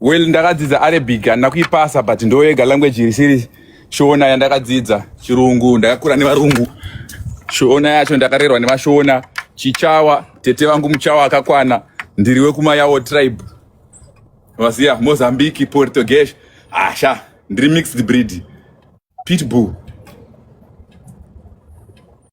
Well, ndakadzidza Arabic handina kuipasa but ndoyega language risiri Shona yandakadzidza, Chirungu ndakakura nevarungu, Shona yacho ndakarerwa nevashona, Chichawa tete vangu Muchawa akakwana, ndiri wekumayawo tribe, vaziya Mozambique, Portuguese, asha ndiri mixed breed, pitbull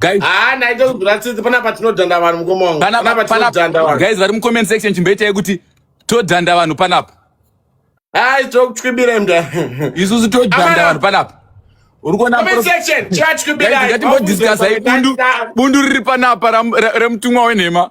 Guys, ah, naite kuzviratsitsi pana patinodhanda vanhu mukoma wangu. Pana patinodhanda vanhu. Guys, vari mu comment section chimboitai kuti todhanda vanhu panapa. Hai, tokutwibira mda. Isusu todhanda vanhu panapa. Uri kuona comment section chatwibira. Guys, ngatimbo discuss bundu bundu riri panapa remutumwa wenhema.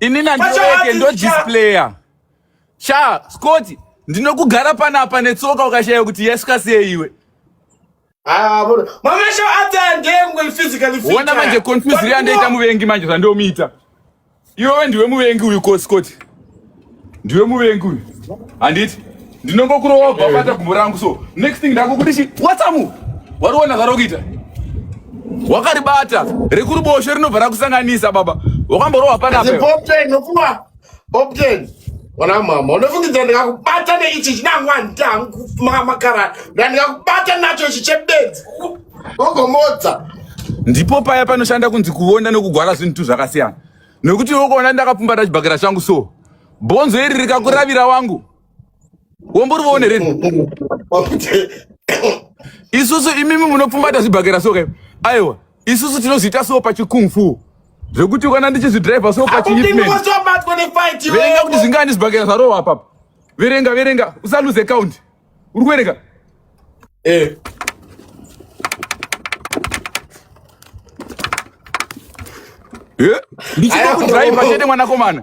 Ini nandiweke ndo displayer. Sha, Scott, ndinokugara panapa netsoka ukashaya kuti yasvika sei iwe. Ah, bro. Mama sho ata ndengwe physically fit. Wona manje confuse ri andaita muvengi manje zvandomuita. Iwe ndiwe muvengi uyu ko Scott. Ndiwe muvengi uyu. Handiti? ndinongokurowa ubva bata gumbo rangu so next thing ndakukudishi watsamu wariona zvarokuita wakaribata rekuruboshe rinobva rakusanganisa baba wakamborowa panaoptenokua opten ona mama unofungidza ndikakubata neichi chinangwandamakara ndandikakubata nacho ichi chebedzi ogomodza ndipo paya panoshanda kunzi kuona nokugwara zvinhu tu zvakasiyana nokuti wokuona ndakapfumbata chibhakera changu so bhonzo iri rikakuravira wangu wombori vone rini isusu imimi munopfumbata zvibhakera so kai aiwa isusu tinozviita so pachikungfu zvekuti kana ndichizvidriver so pachiverenga kuti zvingani zvibhakera zvarowa apapa verenga verenga usaluze count uri kuverenga eh. ndichida kudriver chete mwanakomana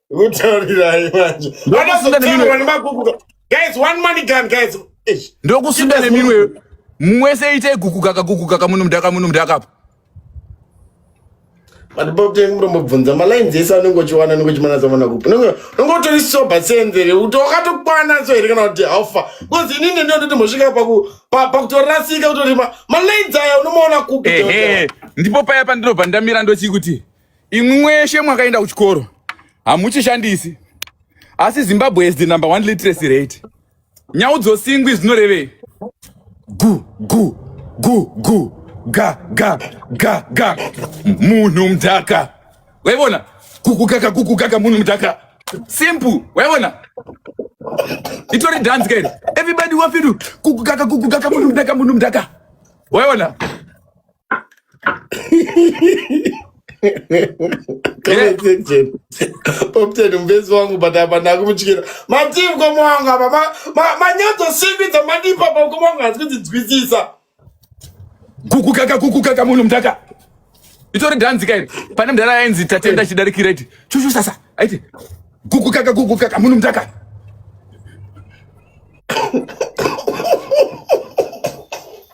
Mutaurirai manje. Anozotaura nemagukuka. Guys, one money gun guys. Ndokusinda neminwe. Mwese ite gukuka kagukuka kamuno mdaka muno mdaka apa. But Bob Teng mrombo bvunza ma lines ese anenge uchiwana anenge uchimana zamana kupi. Unenge unenge utori sober senzere. Utokatokwana so here kana kuti alpha. Because inini ndio ndoti mosvika pa ku pa kutorasika utori ma lines aya unomaona kupi. Ndipo paya pandinobva ndamira ndochikuti. imwi mweshe mwakaenda kuchikoro hamuchishandisi asi zimbabwe is the number one literacy rate nyau dzosingwi zvinorevei gu gu gu gu ga ga ga ga munhu mudhaka waivona kukukaka kukukaka munhu mudhaka simple waivona itori dance kairi everybody wafidu kukukaka kukukaka munhu mudhaka munhu mudhaka waivona opten mvezi wangu but apa ndakumutyira matii mukoma wangu apa manyadzosimbidza mandipa pa mukoma wangu hasi kunzinzwisisa kukukaka kukukaka munhu mdaka itori dhanzi kairi pane mdara ainzi tatenda chidarikira iti chushu sasa aiti kukukaka kukukaka munhu mdaka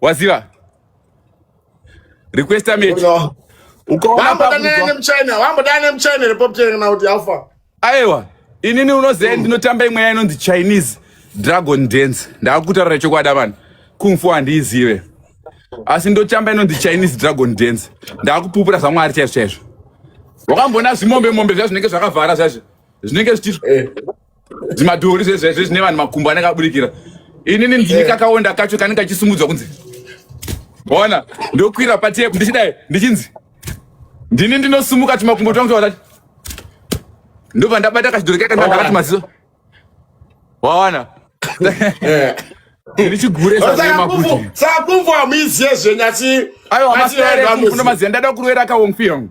waziva request mechi aiwa inini unoziva ndinotamba imweya inonzi chinese dragon dance ndakutaura chokwada vanhu kumfu handiizive asi ndotamba inonzi chinese dragon dance ndakupupura zvamwari chaizvo chaizvo wakamboona zvimombe mombe zva zvinenge zvakavhara zvazvo zvinenge zvichii eh. zvimadhori zvezvezve zvine vanhu makumbo anenge aburikira inini ndini eh. kakaonda kacho kanenge kachisumudzwa kunzi ona ndokwira patepu ndichidai ndichinzi ndini ndinosumuka tumakumbo twangu twaati ndobva ndabata kachidhori kaika ndakati maziso waona eh. ndichiguresakumvo hamuiziye zvenyu asi aiwa maziya ndada kurwera kaonfi yangu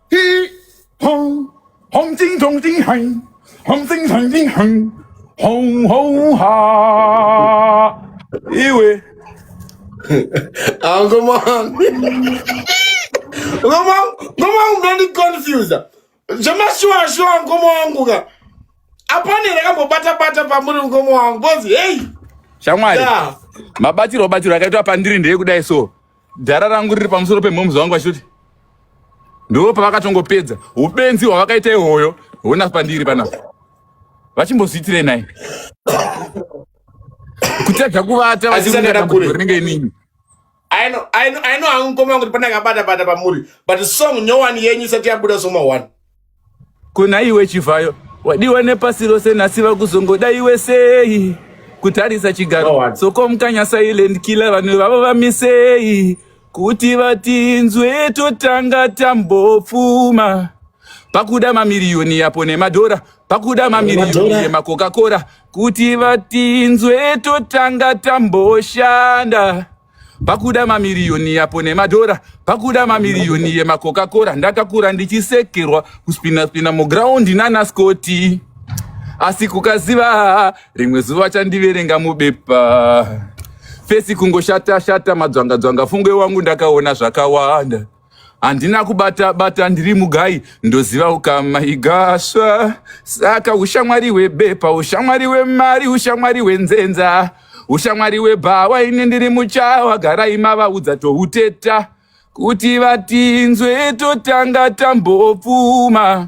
iwe angomami ngoma wangu ndondiconfusa zvemashuwashuwa ngoma wangu ka apane rakambobatabata pamuri ngoma wangu bcoz heyi shamwari mabatirwo batirwo akaitwa pandiri ndeyekudai so Dhara rangu riri pamusoro pemhomzi wangu vachitoti ndo pavakatongopedza ubenzi hwavakaita ihoyo hona pandiri panapa vachimbozviitirei nai kutadza kuvata vachiriringe inini I know, I know, I know, I'm coming to Panagabata, but Bamuri, but song, no one, Yenny, Satya Buddha, Soma, one. Kuna iwe Chivhayo wadiwa nepasi rose nhasi vakuzongoda iwe sei kutarisa chigaro sokomukanya silent killer vanhu vavo vamisei kuti vatinzwe totanga tambopfuma pakuda mamiriyoni yapo nemadhora pakuda mamiriyoni yemacoca cola kuti vatinzwe totanga tamboshanda pakuda mamiriyoni yapo nemadhora pakuda mamiriyoni yemacoca cola ndakakura ndichisekerwa kuspina spina mugraundi nana scoti asi kukaziva rimwe zuva vachandiverenga mubepa fesi kungoshata shata madzvangadzvanga fungwe wangu ndakaona zvakawanda handina kubata bata ndiri mugai ndoziva ukama igasva saka ushamwari hwebepa ushamwari hwemari ushamwari hwenzenza ushamwari hwebhawa ini ndiri muchawa garai mavaudza touteta kuti vatinzwe totanga tambopfuma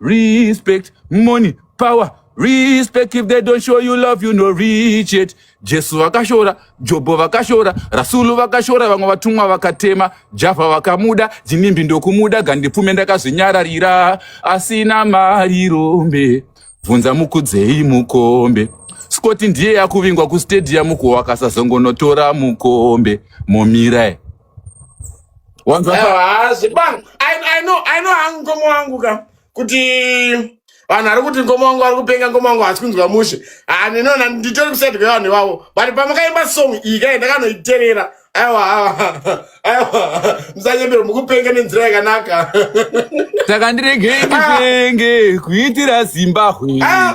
respect money power respect if they don't show you love you no reach it jesu vakashora jobho vakashora rasulu vakashora vamwe vatumwa vakatema javha vakamuda jinimbi ndokumuda gandipfume ndakazvinyararira asina mari rombe bvunza mukudzei mukombe scoti ndiye yakuvingwa kustadium kuwakasazongonotora mukombe momira wanzwa pa- hazi bang I, I know I know hangu mkoma wangu ka kuti vanhu vari kuti mkoma wangu vari kupenga mkoma wangu hasi kunzwa mushe Ah, ndinoona nditori kuside kwevanhu ivavo but pamakaimba song iyi kai ndakanoiterera aiwa aiwa, aiwa musanyembere mukupenga nenzira yakanaka takandiregei ndipenge kuitira zimbahwe Ah,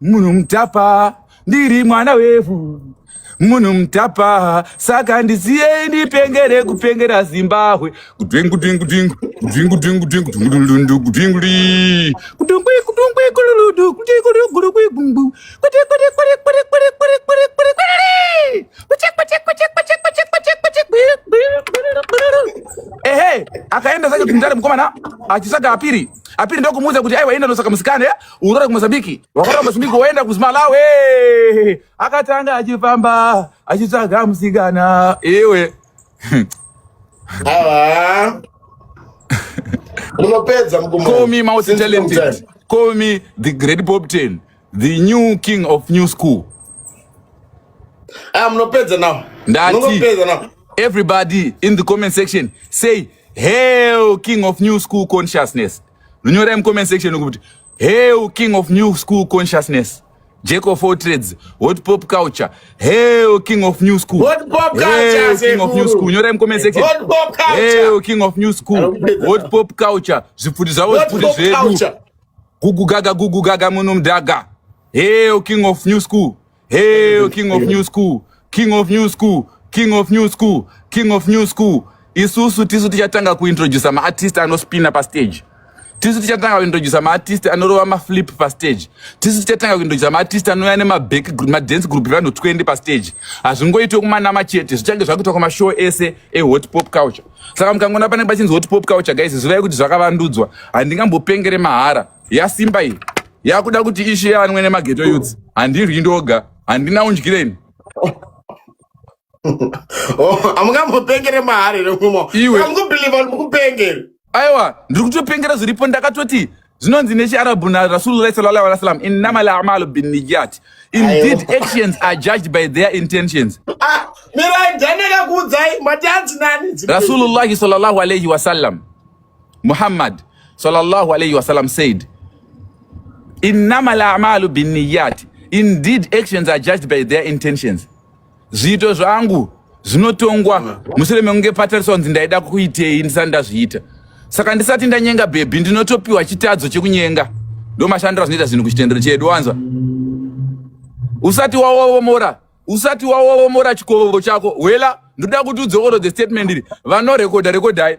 Munhu mutapa ndiri mwana wevhu munhu mutapa saka ndisiyei ndipengere kupengera zimbabwe ehe akaenda zake kumtare mukomana achisaka apiri apiri ndokumuudza kuti aiwa enda nosaka musikane urore kumozambiki wakarora kumozambiki woenda kuzimalawi akatanga achifamba achitsvaga musikana iwe awa munopedza call me multi talented call me the great pop ten the new king of new school ah munopedza now ndati everybody in the comment section say hail king of new school consciousness nonyorai mucomment section kuti hell king of new school consciousness jack of all trades hot pop culture hell king of new school hot pop culture king of new school nyorai mucomment section hot pop culture hell king of new school hot pop culture zvipfuti zvavo zvipfuti zvedu gugu gaga gugu gaga muno mdaga hell king of new school Hey, king of new school, king of new school, king of new school, king of new school. Isusu tisu tichatanga kuintroduce maartist anospina pastage. Tisu tichatanga kuintroduce maartist anorova maflip pastage. Tisu tichatanga kuintroduce maartist anouya nemaback madance group evanhu 20 pastage. Hazvingoitwe kumanama chete, zvichange zvakuitwa kumashow ese ehot pop culture. Saka mukangoona panenge pachinzi hot pop culture guys, zivai kuti zvakavandudzwa. Handingambopengere mahara. yasimba iyi yakuda kuti ishe yanwe nemageto yuts handiryi ndoga handina undyireni oh, amungambopengere mahari remumo iwe amukubhiliva mukupengere aiwa ndiri kutopengera zviripo ndakatoti zvinonzi nechiarabhu narasulullah sallallahu alaihi wasallam innama lamalu binniyat indeed actions are judged by their intentions ah, mirai ndanakakuudzai mati anzi nani rasulullahi sallallahu alaihi wasallam Muhammad sallallahu alayhi wasallam said, innama lamalu binniyat, indeed actions are judged by their intentions. Zviito zvangu zvinotongwa mushure mekunge patariswa kunzi ndaida kuitei ndisati ndazviita. Saka ndisati ndanyenga bhebhi ndinotopiwa chitadzo chekunyenga. Ndo mashandiro azvinoita zvinhu kuchitendero chedu wanzwa. Usati wawomora, usati wawomora chikovo chako. Wela, ndoda kuti udzokorodze statement iri. Vanorekodha rekodhai.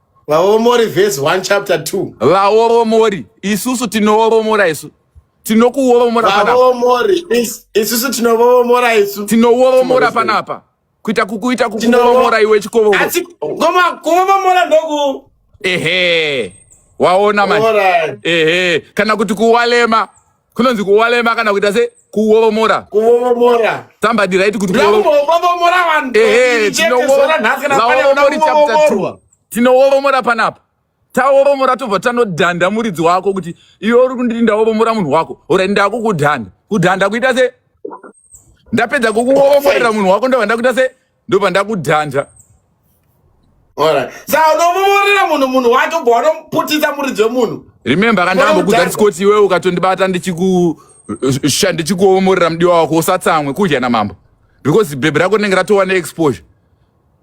vaoromori verse 1 chapter 2 vaoromori isusu tinooromora isu tinokuoromora vaoromori isusu tinooromora isu tinooromora panapa kuita kukuita kukuoromora iwe chikovo asi ngoma kuoromora ndoku ehe waona manje ehe kana kuti kuwalema kunonzi kuwalema kana kuita se kuwovomora kuwovomora somebody right kuti kuwovomora vanhu ehe tinowovomorai chapter 2 tinowovomora panapa tawovomora tobva tanodhanda muridzi wako kuti iwe uri kunditi ndawovomora munhu wako ora ndakukudhanda kudhanda kuita se ndapedza kukuoforera munhu wako ndobva ndakuita se ndobva ndakudhanja sa unomuvorera munhu munhu wake ubva wanomuputisa muridzi wemunhu remember kandambokudza ndisikoti iwewe ukatondibata ndichikuomorera mudiwa wako usatsamwe kudya namambo because bhebhi rako rinenge ratova neexposure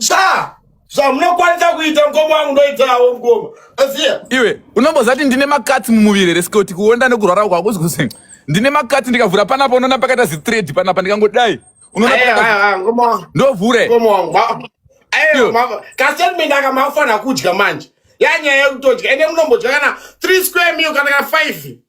Sha! Sha munokwanisa kuita mukoma wangu ndoitawo mukoma. Asiya. Iwe unombozati ndine makatsi mumuviri here sikoti kuonda nekurwara uko hakuzi kuzi ndine makatsi ndikavhura panapa unoona pakaita zithread panapa ndikangodai. Unoona Aye, pakaita aye, aye, mukoma wangu. ndovhure. Mukoma wangu. ma- Aye, Yo. mama. Kastatement aka mafanira kudya manje. Yanyaya yekutodya. Ende munombodya kana 3 square meal kana kana 5.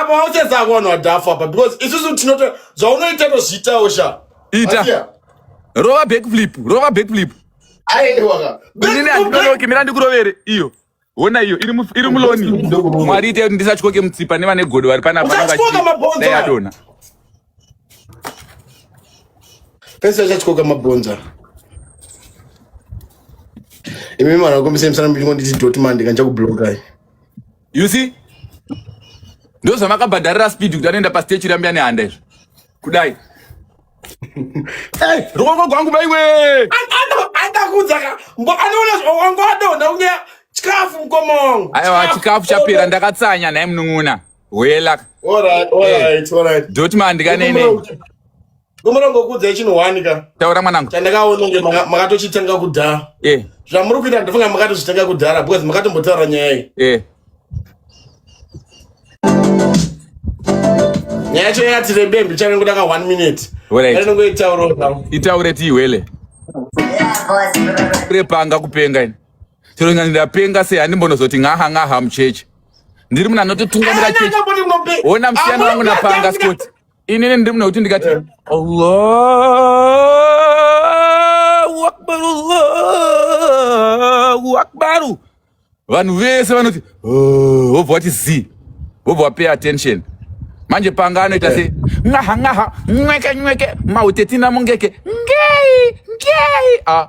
apa waucheza vanhu vadhafu apa because isusu tinoto zvaunoita tozviitawo sha ita rova backflip rova backflip aewakaninonoke mira ndikurovere iyo hona iyo iri muloni mwari ite kuti ndisatyoke mutsipa nevane godo vari panapaaadona pese achatyoka mabhonza imi mwana wakombisa imisana michingo nditi doti mandika ndichakublokai you see ndozvamakabhadharira speed kuti anoenda pastage chirambia nehanda izvo kudai eh, ruoko gwangu baiwe aiwa chikafu chapera ndakatsanya nhai munun'una welaka dotman ndikanene Kumurombo kudza chino wani ka. Taura mwanangu. Chandakaona kunge makatochitenga kudhara. Eh. Zvamuri kuita ndifunga makatochitenga kudhara because makatombotaura nyaya iyi. Eh. Nyaya yacho yati rebe mbichane ngoda ka 1 minute. Wele. Ndino ngoitaura zvangu. Itaure ti wele. Repanga kupenga ini. Chero ngani ndapenga sei handimbonozoti ngaha ngaha mucheche. Ndiri munhu anototungamira cheche. Ona msiyana wangu napanga skoti. inini ndiri mune kuti ndikati eh. allahu akbar allahu akbaru vanhu vese vanoti oh, vobva vati z vobva vapay attention manje panga anoita se nwaha nwaha nweke nweke mautetina mungeke ngei ngei a ah.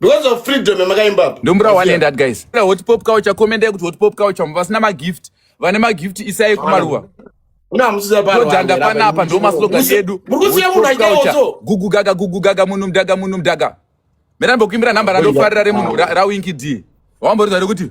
because of freedom yamakaimba apa ndombura one and that guys hot pop kawo chakomenda kuti hot pop kawo chamu vasina magift vane magift isai kumaruva todhanda panapa ndo maslogan edu gugu gaga gugu gaga munhu mdaga munhu mdaga mera ndimbokuimbira nhamba randofarira remunhu rawinki d wamboriza rekuti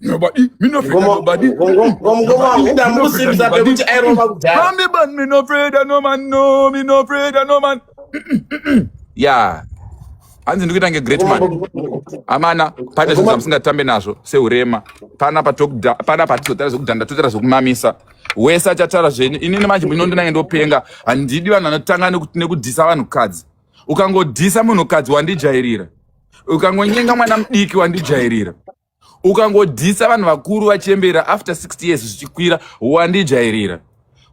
Nobody, me no afraid of nobody. Nobody, man, me no afraid of no man, no, me no afraid of no man. Yeah. hanzi ndikuita kunge great man amana pane zvinhu zvamusingatambe nazvo seurema pana pana patizotara zvekudhanda totara zvekumamisa wese achatara zvenyu inini manje muno ndinange ndopenga handidi vanhu vanotanga nekudhisa vanhukadzi ukangodhisa munhukadzi wandijairira ukangonyenga mwana mudiki wandijairira ukangodhisa vanhu vakuru vachembera after 60 years zvichikwira wandijairira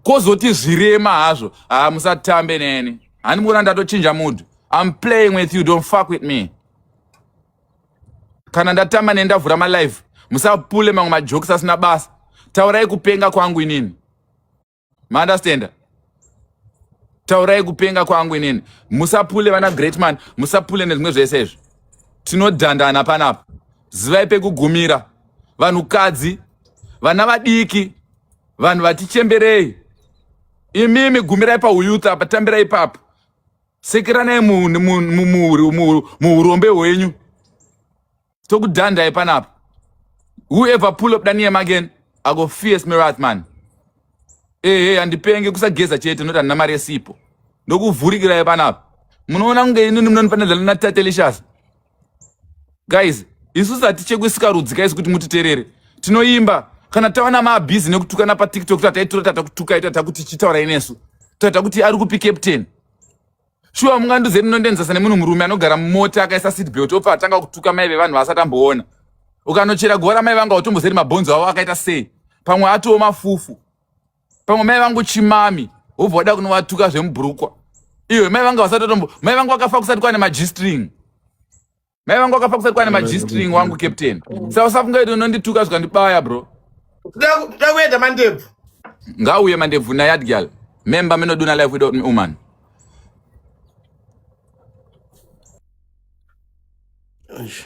kozoti zvirema hazvo haa musatambe neni hani muona ndatochinja mudhu im playing with you don't fuck with me kana ndatamba neni ndavhura malife musapule mamwe majokes asina basa taurai kupenga kwangu inini maunderstanda taurai kupenga kwangu inini musapule vana great man musapule nezvimwe zvese izvi tinodhandana panapa zivai pekugumira vanhukadzi vana vadiki vanhu vatichemberei imimi gumirai pauyuth apa tambirai ipapo sekeranai muurombe hwenyu tokudhandai panapa whoever pull up daniem again ago fierce mirath man ehe handipenge kusageza chete noti handina mari yesipo ndokuvhurikirai panapa munoona kunge inini munonifanirana natatelishas guys isu sati chekusika rudzi kaisi kuti mutiterere tinoimba kana tawana maabhizi nekutukana patiktok tataitora tatakutukai tatakuti chitaurai nesu tata kuti ari kupi captain shuwa mungandiuze munondienzesa nemunhu murume anogara mumota akaisa seat belt obva atanga kutuka mai vevanhu vaasati amboona ukanochera guva ramai vangu hautombozeri mabhonzo avo akaita sei pamwe atiwo mafufu pamwe mai vangu chimami wobva wada kunovatuka zvemubhurukwa iyo mai vangu vasatotombo mai vangu vakafa kusati kwane magistring mai vangu akafa kusati kwane magistring wangu captain sa usafungaiti unondituka zvikandibaya bro toda kuenda mandebvu ngauye mandebvu nayard gal memba minoduna life without me woman Eish.